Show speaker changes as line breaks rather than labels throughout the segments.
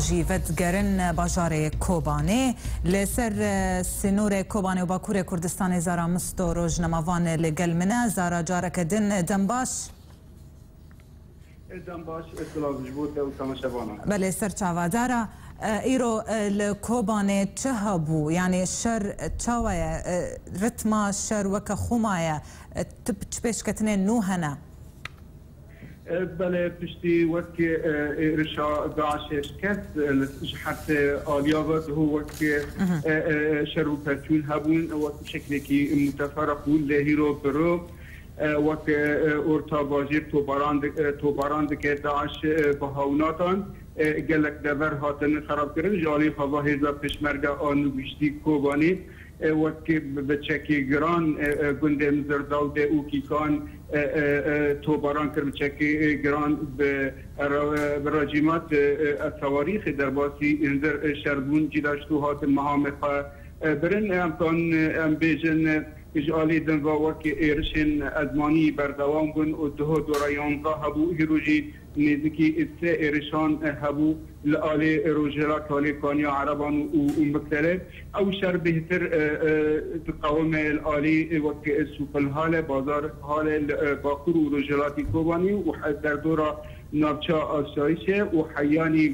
Jî vedigerin bajarê Kobanê. Li ser sînorê Kobanê û Bakurê Kurdistanê Zara Musto rojnemavan li gel min e. Zara careke din dem baş. Dem baş silav ji bo te û
temaşevanan. Belê ser çava
Zara. Îro li Kobanê çi hebû? Yanî şer çawa ye? Ritma şer weke xwe maye? Ti çi pêşketinên nû hene? Belê
piştî wekî êrişa DAIŞ'ê şikest ji heftê aliya ve dihû wekî şer û pevçûn hebûn wekî şeklekî mûteferik bûn lê hîro biro wekî orta bajêr tobaran dike DAIŞ bi hawinatan gelek dever hatin xerabkirin ji aliyê xwe ve hêza pêşmerge a nû gihiştî Kobanî Wek bi çekê giran gundê Mizirdal dê û Kîkan tobaran kir bi çekê giran bi racîmat ez tewarîxê derbasî hindir şer bûn cîda ji to hatin mehamê xwe birin em kanin em bêjin ji aliyê din ve wek êrişên ezmanî berdewam bûn û duho dora yanzdeh hebû hîro jî Nêzîkî sê êrişan hebû li alê rojhêlak alê kaniya ereban û miksere. Ew şer bêhtir diqewime li alî wek Sûpilhale, Bazar Hale li bakur û rojhêlatî Kobanî û derdora navça asayişê û heyanî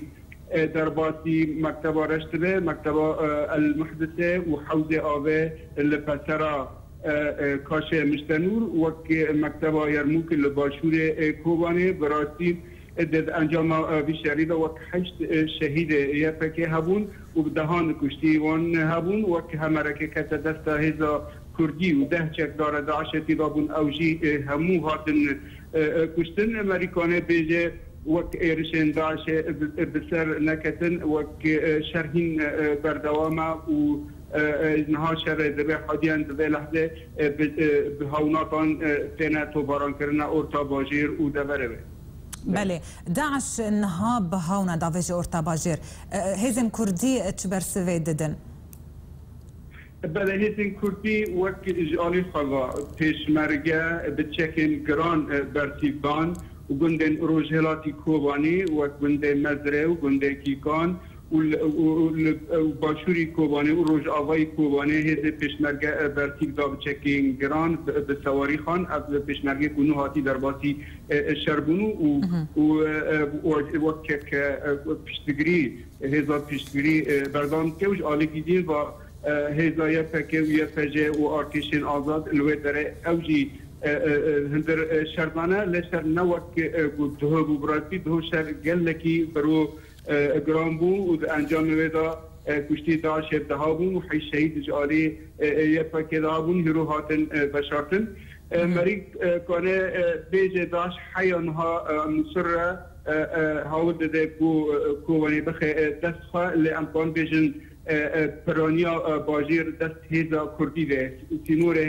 derbasî Mekteba Reş dibe, Mekteba El Muhdise û Hewzê Ave li pesera. Kaşe Muştenûr, wek Mekteba Yermûk li başûrê Kobanê bi rastî di encama vî şerî de wek heşt şehîd YPK'ê hebûn û bi dehan kuştî wan hebûn. Wek hemerekê kete desta hêza kurdî û deh çekdara DAIŞ'ê tî dabûn ew jî hemû hatin kuştin. Merîkane bêje wek êrişên DAIŞ'ê bi ser neketin wek şer hîn berdewam e û Niha şerê di vê hadiyan di vê lehzê bi hewnapan têne tobarankirinê orta bajêr û deverê wê. Belê.
DAIŞ niha bi hewna da vê ji orta bajêr. Hêzên kurdî çi bersivê didin?
Belê hêzên kurdî wek ji alî xwe ve pêşmerge bi çekên giran bersîv dan û gundên rojhilatî Kobanî wek gundê Mezrê û gundê Kîkan, û başûrî Kobanê û rojavayî Kobanê hêzê pêşmerge Bertîl da bi çekên giran bi sewarî xan. Ev pêşmergê ku nû hatî derbasî şer bûn û weke ke piştgirî hêza piştgirî berdewam dike û ji alî Gîdîn ve hêza ypk û ypj û artêşên azad li wê derê ew jî hundir şer dane. Lê şer ne wek ku duh bû bi rastî duh şer gelekî biro Giran bû û di encamê wê de kuştî da şêvdeha bûn û heyş şehîd ji alî YPK'ê de hebûn hîro hatin veşartin. Merîg Kane bêjê DAIŞ heya niha Mûsil re hawil dide ku kowenê bixe dest xwe lê em dixwin bêjin piraniya bajêr dest hêza kurdî de sînorê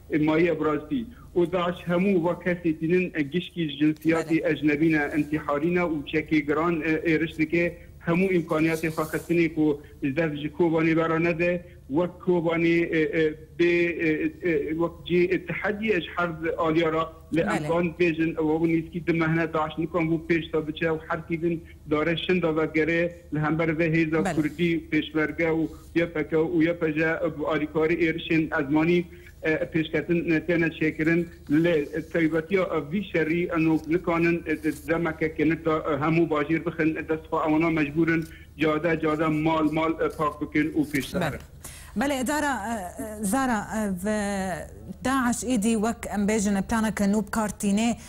Ê ma ye birastî. Û daş hemû va kesê tînin e gişkî ji jinsiyatê ecnebî ne, intîharî ne û çekê giran êriş dike. Hemû îmkaniyatê xwe xistinê ku ji dest ji Kobanê ve re nede. Wek Kobanê bê wek cê tehedîye ji her aliya re. Lê em van dibêjin ew nîskî di mehne daş nikan vû pêş de biçe û herkî din Darê Şin Dazadgerê li hember vê hêza kurdî, pêşmerge û ypk û ypj bi alîkarî êrişên ezmanî pêşketin têne çêkirin. Lê taybetiya vî şerî eno ku nikanin demeke kinik de hemû bajêr bixin dest xwe. Ewana mecbûr in cade cade mal mal pak bikin û pêş biherin. Belê Dara
Zara, DAIŞ êdî wek em bêjin planeke nû bi kar tînê.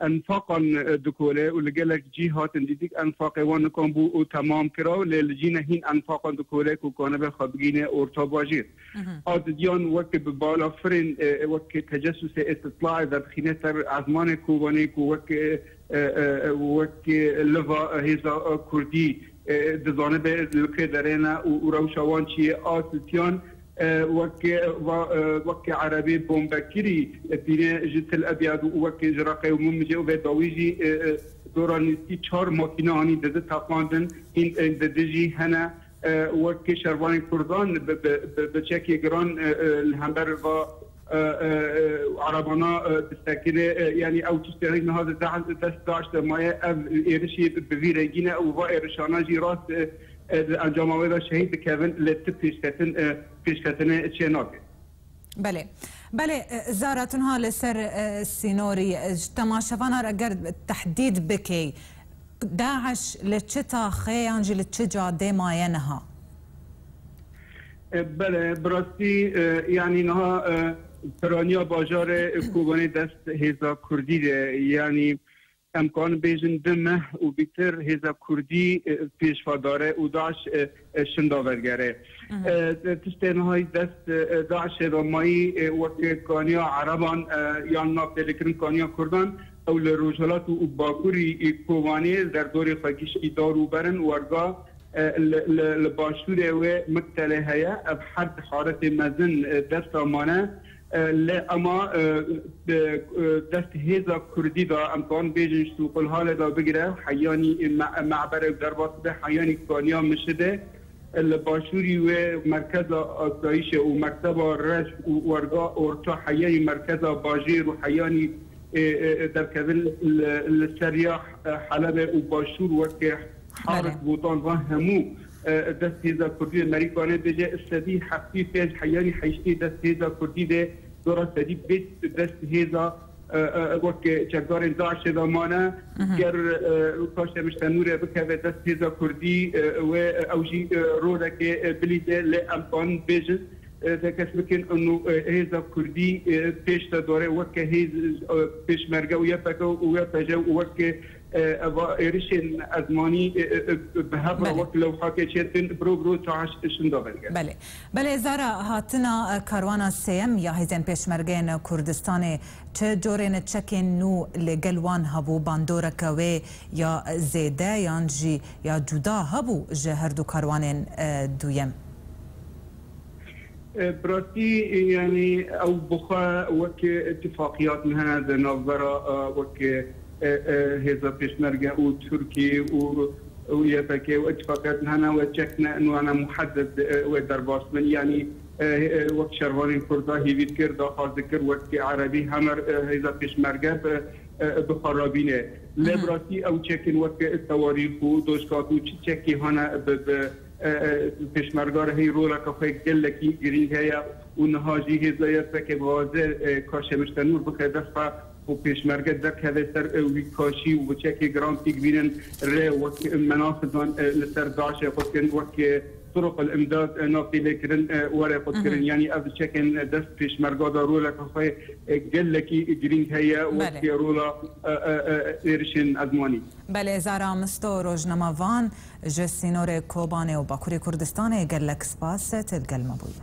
Enfaqan dikole û li gelek cîh hatin dîtik enfaqê wan nikan bû û temam kira lê li cî ne hîn enfaqan dikole ku kanibe xwe bigihîne orta bajêr. A didiyan wek bi bala firên wek tecesûsê îstîtlaê vedixîne ser ezmanê Kobanê ku wek wek liva hêza kurdî Dizanibe li kê derê ne û rewşa wan çi ye. A Sisyan wek va wekî erebê bombekirî tîne ji Til Ebyad û wekî ji Reqê û Mumicê û vê dawî jî dora nîskî çar makîne anî dizi teqandin. Hîn ên di dijî hene wekî şervanên kurdan bi çekê giran li hember va. Erebana bi sekirê yanî ew tiştê niha di dest DAIŞ de maye. Ev êrişî bi vî rengî ne û va êrişanan jî rast di encama wê de şehîd dikevin lê ti pêşketin pêşketinê çê nake. Belê
belê zara tu niha li ser sînorî ji temaşevanan re ger tehdîd bikê DAIŞ li çi taxê yan jî li çi cadê maye niha?
Bele, bi rastî yanî niha piraniya bajarê Kobanê dest hêza Kurdî de yanî em karin bêjin di meh û bîtir hêza Kurdî pêşva dare û DAIŞ şinda vergere. Tiştê niha yî dest DAIŞê ve mayî weke kaniya Ereban yan navtêrlêkirin kaniya Kurdan ew li Rojhilat û Bakurî Kobanê li derdorê xwe giştî dar û berin werga Li başûrê wê Mekselê heye, ev her di haretê mezin dest de mane. Lê ema bi dest hêza kurdî de em dikarin bêjin ji Sûqulhalê de bigire Heyanî Me'berê û derbas bibe Heyanî Kaniya Mişidê. Li başûrî wê Merkeza Asayîşê û Mekteba Reş û Werga Orta Heyanî Merkeza Bajêr û Heyanî Derkevin li ser ya Helebê û Başûr weke Haris Botan va hemû dest hêza kurdî de merîkane de jê sedî heftê û pênc heyanî heyştê dest hêza kurdî de dora sedî bê dest hêza wek çekdarên DAIŞê de mane. Ger ka Şemîş Tenûre bikeve dest hêza kurdî wê ew jî rolekê bilîze lê em kanin bêjin de kes bikin û hêza kurdî pêş de dore wek hêz pêşmerge û ypk û ypj û wek Eva êrişên ezmanî bi hev re wek lewhatê çêdikin biro biro taş şinda vedikin. Belê. Belê zara
hatina karwana sêyem ya hêzên pêşmergeyên Kurdistanê çi corên çekên nû li gel wan hebû bandoreke wê ya zêde yan jî ya cuda hebû ji herdû karwanên duyem?
Bi rastî yanî ew bi xwe wek îtîfaqîyat ne di navbera wek hêza pêşmerge û Tirkî û YPG û îtîfaqîyat hene wê çek ne in wana muhedded wê derbas bin yanî wek şervanên Kurda hêvî kir daxwaz dikir wek Erebî hemer hêza pêşmerge bi bi xwe re bîne lê bi rastî ew çekên wek Sewarî xû Dojkak û çi çekî hane bi bi Pêşmerga rehî roleke xwe gelekî girîng heye û niha jî hêza YPG'ê dixwaze ka Şemîr Senûr bixe dest xwe û pêşmerge derkeve ser wî ka şî û biçekê giran pîk bînin re wek Menafizan li ser DAIŞ'ê xwe dikin wek Turuq el Imdad nav tê lê kirin were xwe dikirin yanî ev biçekên dest pêşmerga da roleke xwe gelekî girîng heye wek rola êrişên ezmanî. Belê Zara
Misto rojnama van Ji sînorê Kobanê û Bakurê Kurdistanê gelek spas têdigel me bûye.